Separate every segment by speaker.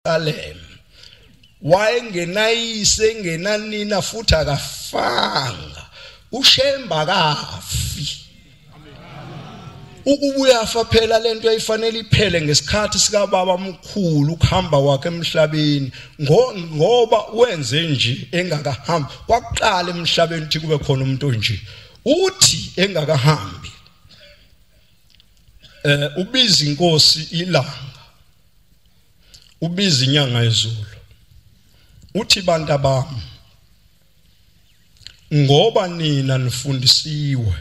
Speaker 1: Jerusalem wayengenayise engenanina futhi akafanga ushemba kafi ukubuya afa phela lento eyifanele iphele ngesikhathi sika baba mkhulu ukuhamba kwakhe emhlabeni ngoba wenze nje engakahambi kwaqala emhlabeni ukuthi kube khona umuntu onje uthi engakahambi eh ubiza inkosi ilanga ubiza inyanga yezulu uthi bantu abami ngoba nina nifundisiwe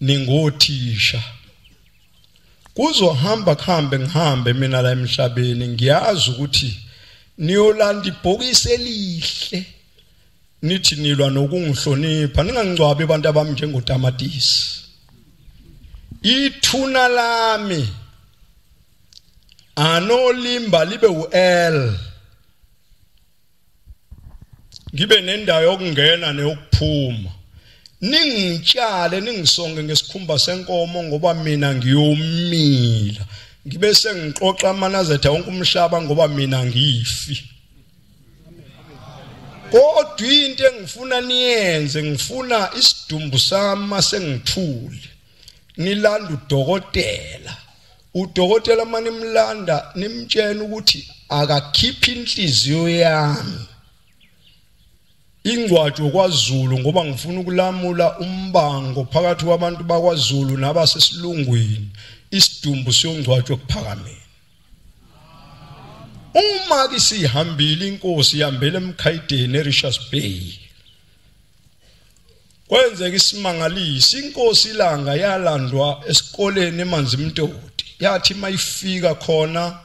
Speaker 1: ningothisha kuzohamba kuhambe ngihambe mina la emhlabeni ngiyazi ukuthi niyolanda ibhokisi elihle nithi nilwa nokungihlonipha ningangcwabi abantu abami njengotamatisi ithuna lami anolimba libe u-l ngibe nendawo yokungena neyokuphuma ningitshale ningisonge ngesikhumba senkomo ngoba mina ngiyomila ngibe sengixoxa amanazetha wonke umhlaba ngoba mina ngifi kodwa into engifuna niyenze ngifuna isidumbu sami masengithule nilanda udokotela udokotela mani mlanda nimtshena ukuthi akakhiphi inhliziyo yami ingcwajo kwaZulu ngoba ngifuna ukulamula umbango phakathi kwabantu bakwaZulu nabasesilungwini isidumbu siyongcwajwa kuphakameni uma ke sihambile inkosi ihambele emkhayideni eRichards Bay kwenzeka isimangalisi inkosi ilanga yalandwa esikoleni emanzi mtoti yathi mayifika khona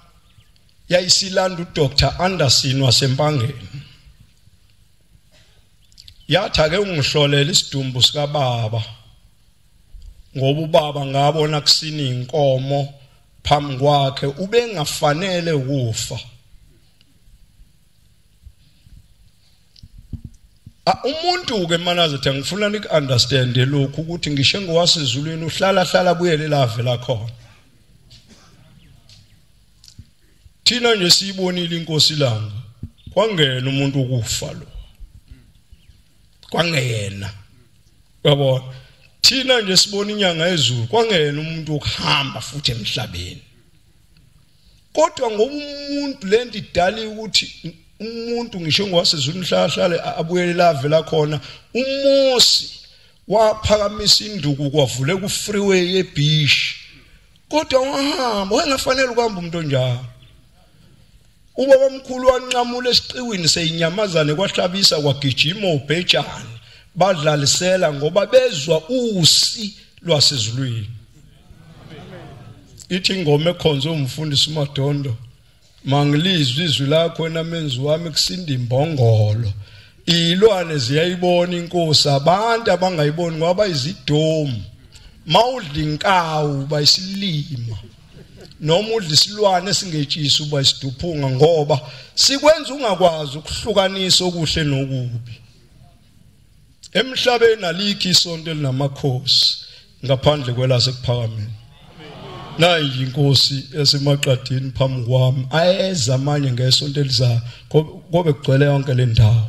Speaker 1: yayisilanda uDr Anderson wasempangeni yathi ake ungihlolela isidumbu sikababa ngoba ubaba ngabona kusini inkomo phambi kwakhe ubengafanele ukufa umuntu ke manazethe ngifuna nik understand lokhu ukuthi ngisho ngowasezulwini uhlala hlala buyele lave la khona thina nje siyibonile inkosi langa kwangena umuntu ukufa lo kwangeyena yabona thina nje sibona inyanga ezulu kwangeyena umuntu okuhamba futhi emhlabeni kodwa ngoba umuntu lento idali ukuthi umuntu ngisho ngowasezulu mhlahlale abuyele lave la khona uMosi waphakamisa induku kwavule ku freeway yebeach kodwa wahamba wayengafanele ukuhamba umuntu onjalo Ubabamkhulu wanqamula esiqiwini seyinyamazane kwahlabisa kwagijima ubhejane badlalisela ngoba bezwa usi lwasezulwini. Ithi ingoma ekhonze umfundisi uMadondo mangilizwe izwi lakho wena menzi wami kusinda imbongolo. Ilwane ziyayibona inkosi abantu abangayiboni ngoba izidomu. Mawudla inkawu bayisilima. noma udla isilwane esingetshisi uba isiduphunga ngoba sikwenza ungakwazi ukuhlukanisa okuhle nokubi emhlabeni alikho isonto elinamakhosi ngaphandle kwelasekuphakameni nayi inkosi esemaqadini phambi kwami ayeza manje ngesonto elizayo kobe kugcwele yonke le ndawo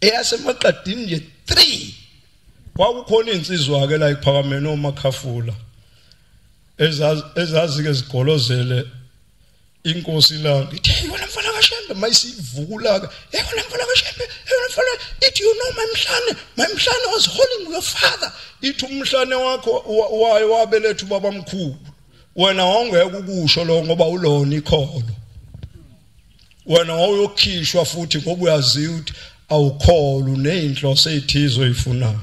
Speaker 1: eyasemaqadini nje 3 kwakukhona insizwa ke la iphakamene omakhafula ezazike zigolozele inkosi la ithi yona mfana kashembe mayisivukula ke yona mfana kashembe yona mfana ithi you know mamhlane mamhlane was holding your father ithi umhlane wakho waye wabeletha ubaba mkhulu wena wawungeke ukusho lo ngoba ulona ikholo wena wawuyokhishwa futhi ngoba uyaziwa ukuthi awukholwa uneyinhloso ezithizo oyifunayo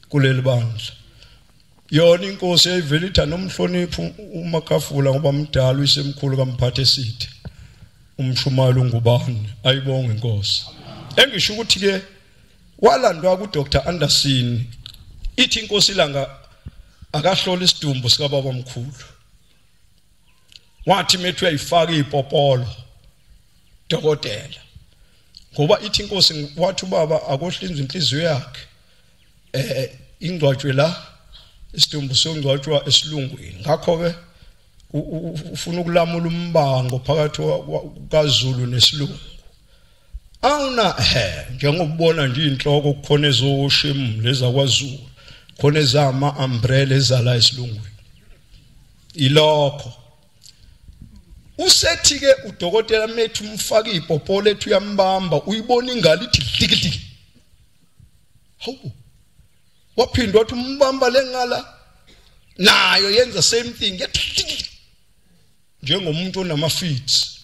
Speaker 1: kuleli bandla yona inkosi yayivele ithanda umhloniphi umakafula ngoba mdala uyisemkhulu kamphathe sithe umshumayelo ungubani ayibonge inkosi engisho ukuthi ke walandwa ku Dr Anderson ithi inkosi ilanga akahlola isidumbu sika baba mkhulu wathi methu uyayifaka ipopolo dokotela ngoba ithi inkosi wathi ubaba akohlinzwe inhliziyo yakhe eh ingcwatshwe la isidumbu songcwatshwa esilungwini ngakho ke ufuna ukulamula umbango phakathi kaZulu nesilungu awuna he njengobona nje inhloko kukhona ezoshim leza kwaZulu khona ezama umbrella ezala esilungwini ilokho usethi ke udokotela methu umfaka ipopo lethu uyambamba uyibona ingalo ithi dlikidiki hawu waphindwa wathi umbamba lengala nayo yenza same thing yathi njengomuntu onamafits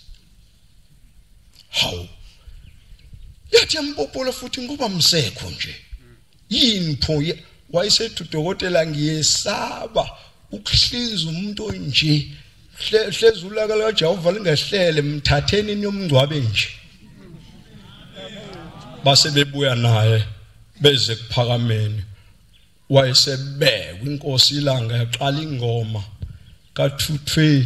Speaker 1: hawu yathi yampopola futhi ngoba msekho nje yini pho wayesethi udokotela ngiyesaba ukuhlinza umuntu onje hlezi ulaka likaJehova lingehlele mthatheni niyomngcwabe nje base bebuya naye beze kuphakameni wayesebekwa inkosi ilanga yaqala ingoma ka220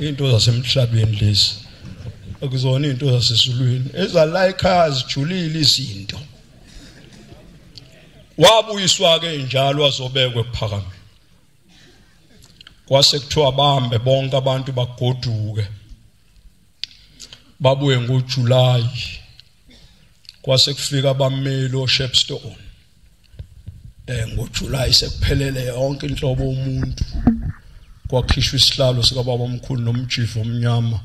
Speaker 1: into zasemhlabeni lezi akuzona into zasesizulwini ezala ekhaya zijulile izinto wabuyiswa ke njalo wazobekwe phakame kwase kuthiwa bambe bonke abantu bagoduke babuye ngoJuly kwase kufika abameli oShepstone eh ngoJuly sekuphelele yonke inhlobo umuntu kwakhishwa isihlalo sikababa omkhulu nomjivo omnyama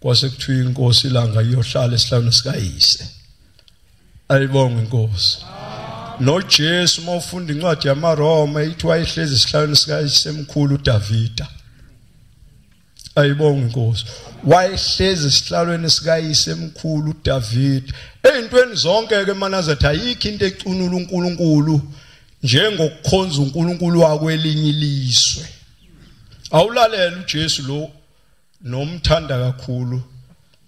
Speaker 1: kwase kuthiwa inkosi ilanga iyohlala esihlalo sikayise ayibonge inkosi noJesu uma ufunda incwadi yamaRoma ithi wayehlezi esihlalweni sikayisemkhulu uDavida ayibonga inkosi wayehlezi esihlalweni sikayise emkhulu uDavid ezintweni zonke ke manazetha ayikho into ecunula uNkulunkulu njengokukhonza uNkulunkulu wakwelinye ilizwe awulalela uJesu lo nomthanda kakhulu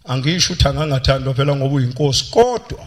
Speaker 1: angisho ukuthi angangathandwa phela ngoba uyinkosi kodwa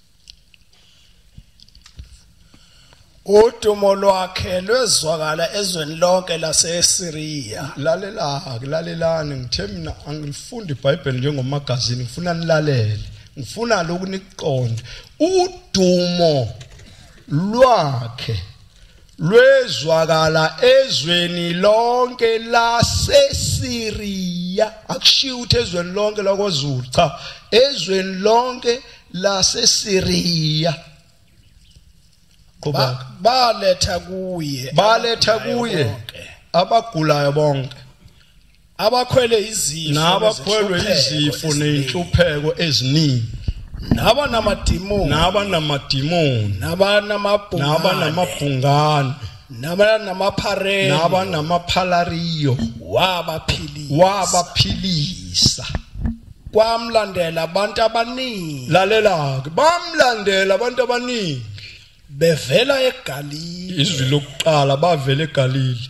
Speaker 2: udumo lwakhe lwezwakala ezweni lonke laseSiriya lalela
Speaker 1: kulalelani ngithe mina angifundi iBhayibheli njengomagazini ngifuna nilalele ngifuna lokhu nikuqonde udumo lwakhe lwezwakala ezweni lonke laseSiriya akushiya ukuthi ezweni lonke lakozulu cha ezweni lonke laseSiriya
Speaker 2: qhubeka baletha kuye baletha kuye
Speaker 1: abagulayo bonke abakhwele
Speaker 2: izifo nabakhwelwe
Speaker 1: izifo nenhlupheko eziningi naba
Speaker 2: namadimoni naba namadimoni naba
Speaker 1: namabhungane naba namabhungane naba namapharela naba namaphalariyo wabaphilisa wabaphilisa
Speaker 2: kwamlandela abantu abaningi lalela ke
Speaker 1: bamlandela abantu abaningi bevela
Speaker 2: eGalili izwi lokuqala
Speaker 1: bavela eGalili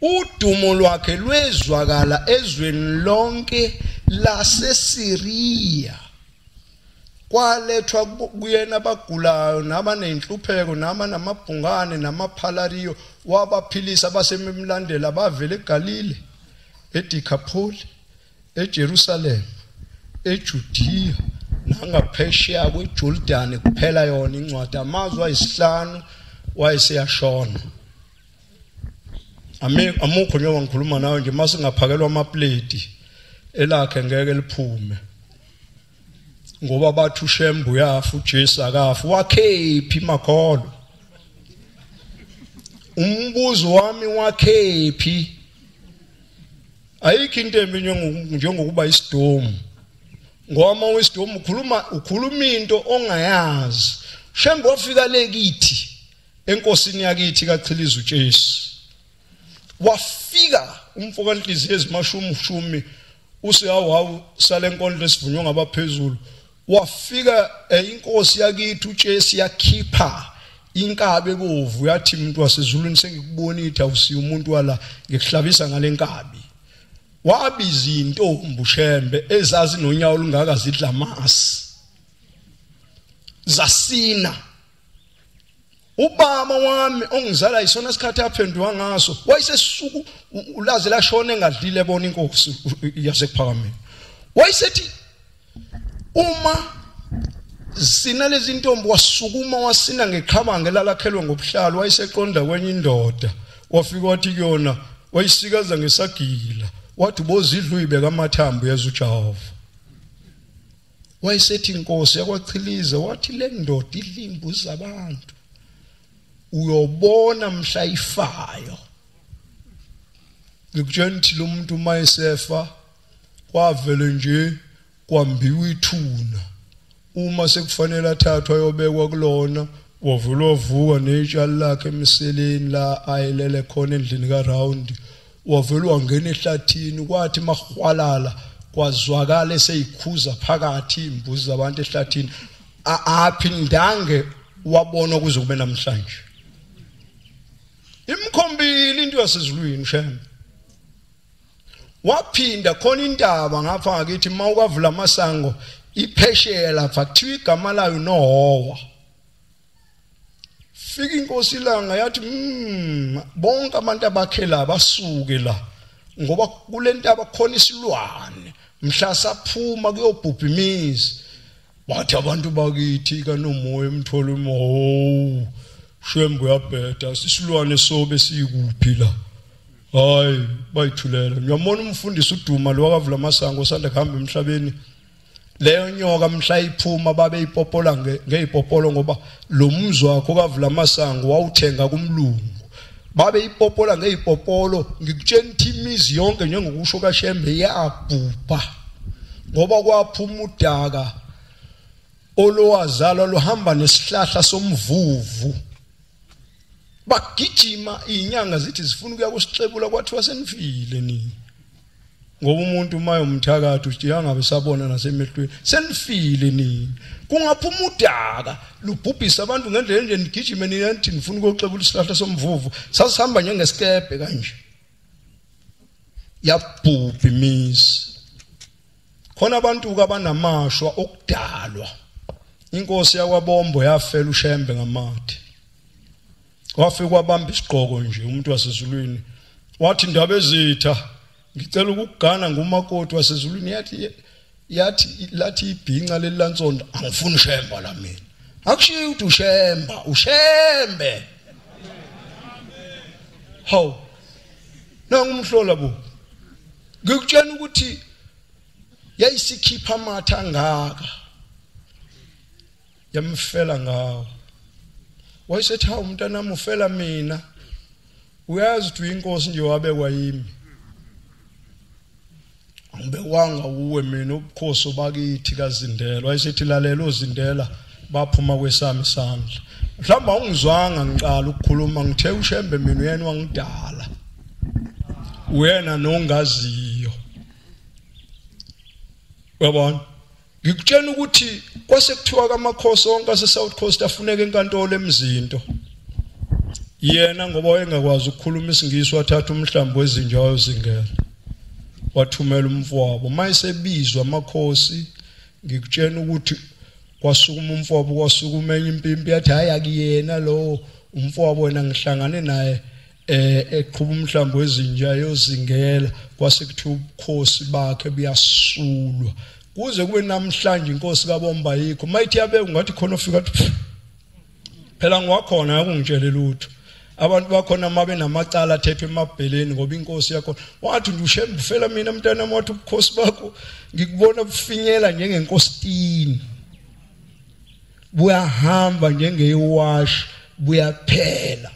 Speaker 1: Udumo lwakhe lwezwakala ezweni lonke laseSiriya. Kwalethwa kuyena abagulayo nabanenhlupheko nama namabhungane namaphalariyo wabaphilisa abasememlandela bavele eGalile eDikapholi eJerusalem eJudiya nangaphesheya kweJordani kuphela yona incwadi amazwi ayisihlanu wayeseyashona Ami amukho njengoba ngikhuluma nawe nje mase ngaphakelwa amaplate elakhe ngeke liphume. Ngoba bathu shembu yafu uJesu akafu wakhephi makholo. Umbuzo wami wakhephi ayikho into embi njengokuba isidomu ngoba uma uyisidomu ukhuluma ukhuluma into ongayazi shembe wafika le kithi enkosini yakithi kachiliza uJesu wafika umfo kanhliziyo ezimashumi ushumi usehawu hawu sale nkondlo esivunywa ngabaphezulu wafika eh, inkosi yakithi uJesu yakhipha inkabe bovu yathi umuntu wasezulwini sengikubonitha awusiya umuntu wala ngikuhlabisa ngalenkabi wabiza intombi ushembe ezazi nonyawo olungaka zidla masi zasina ubaba wami ongizala isona sikhathi aphenduka ngaso wayesesuku ulaze lashona engadlile bona inkosi yasekuphakameni wayesethi uma sina lezi ntombi wasukuma wasina ngeqhabange lalakhelwe ngobuhlalu wayeseqonda kwenye indoda wafika wathi kuyona wayisikaza ngesagila wathi bozidluyibeka amathambo yazi ujehova wayesethi inkosi yakwachilize wathi le ndoda idlimbu zabantu uyobona mhla ifayo ngikutshela ukuthi lo muntu uma esefa kwavele nje kwambiwa ithuna uma sekufanele athathwa ayobekwa kulona wavula wavuka netsha lakhe emseleni la ayelele khona endlini ka round wavele wangena ehlathini kwathi mahwalala kwazwakala eseyikhuza phakathi imbuzi zabantu ehlathini aphindange wabona kuze kube namhlanje imkhombile into yasezulwini shembe waphinda khona intaba ngapha ngakithi uma ukavula amasango iphesheya lapha kuthiwa igama layo nohowa fika inkosi ilanga yathi mm, bonke abantu abakhela basuke la ngoba kulentaba khona isilwane mhla saphuma kuyobhubha imizi bathi abantu bakithi kanomoya emthola umoho shembu yabheda isilwane sobe sikuphi la hayi bayithulela ngiyamona umfundisi uduma lo wakavula amasango osanda kuhamba emhlabeni leyo nyoka mhla iphuma babe ipopola ngeyipopolo ngoba lo mzi wakho kavula amasango wawuthenga kumlungu babe ipopola ngeyipopolo ngikutshela ukuthi imizi yonke njengokusho kashembe iyabhubha ngoba kwaphuma udaka olowazalwa luhamba nesihlahla somvuvu bagijima inyanga zithi zifuna ukuya kusixebula kwathiwa senifile nini ngoba umuntu uma yomthakathi uthi angabe sabona nasemehlweni senifile nini kungaphuma udaka lubhubhisa abantu ngendlela enje nigijime niyanthi nifuna ukuyoxebula isihlahla somvuvu sasihamba njengesikebhe kanje yabhubha imizi khona abantu kabanamashwa okudalwa inkosi yakwabombo yafela ushembe ngamathe wafika wabamba isiqoko nje umuntu wasezulwini wathi ndaba ezitha ngicela ukugana ngumakoti wasezulwini yathi yathi lathi ibhinca leli lansonto angifuni ushemba la mina akushiyi ukuthi ushemba ushembe hawu nangumhlola bo ngikutshena ukuthi yayisikhipha amatha ngaka yamfela ngawo wayesethi hawu mntanami ufela mina uyazi ukuthi uyinkosi nje wabekwa yimi angibewanga uwe mina ubukhosi obakithi kazindela wayesethi lalela ozindela baphuma kwesami isandla mhlawumbe awungizwanga ngiqala ukukhuluma ngithe ushembe mina uyena wangidala uyena nongaziyo uyabona ngikutshena ukuthi kwase kuthiwa kamakhosi onke aseSouth Coast afuneka enkantolo emzinto yena ngoba wayengakwazi ukukhuluma isingisi wathatha umhlambo wezinja wayozingela wathumela umfowabo mayesebizwa amakhosi ngikutshena ukuthi kwasukuma umfowabo kwasukuma enye impimpi yathi hayi akuyena lowo umfowabo wena ngihlangane naye eh eqhuba umhlambo wezinja yozingela kwase kuthiwa ubukhosi bakhe buyasulwa kuze kube namhlanje inkosi kabomba yikho mayithi yabe ungathi khona ofika athi phela ngwakhona yakungitshele lutho abantu bakhona uma benamacala athethwe emabheleni ngoba inkosi yakho wathi ndushembe ufela mina mntana wathi ubukhosi bakho ngikubona bufinyela njengenkositini buyahamba njengewashi buyaphela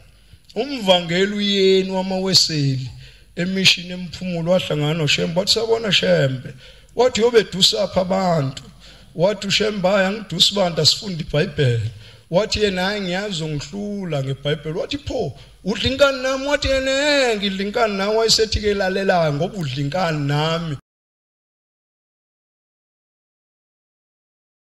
Speaker 1: umvangeli uyeni wamaweseli emishini emphumulo wahlangana noShembe wathi sabona Shembe wathi yobedusapha abantu wathi uShembe hayi angidusi abantu asifunde iBhayibheli wathi yena hayi ngiyazi ungihlula ngeBhayibheli wathi pho udla inkani nami wathi yena ngidla inkani nawe wayesethi ke lalela ngoba udla inkani nami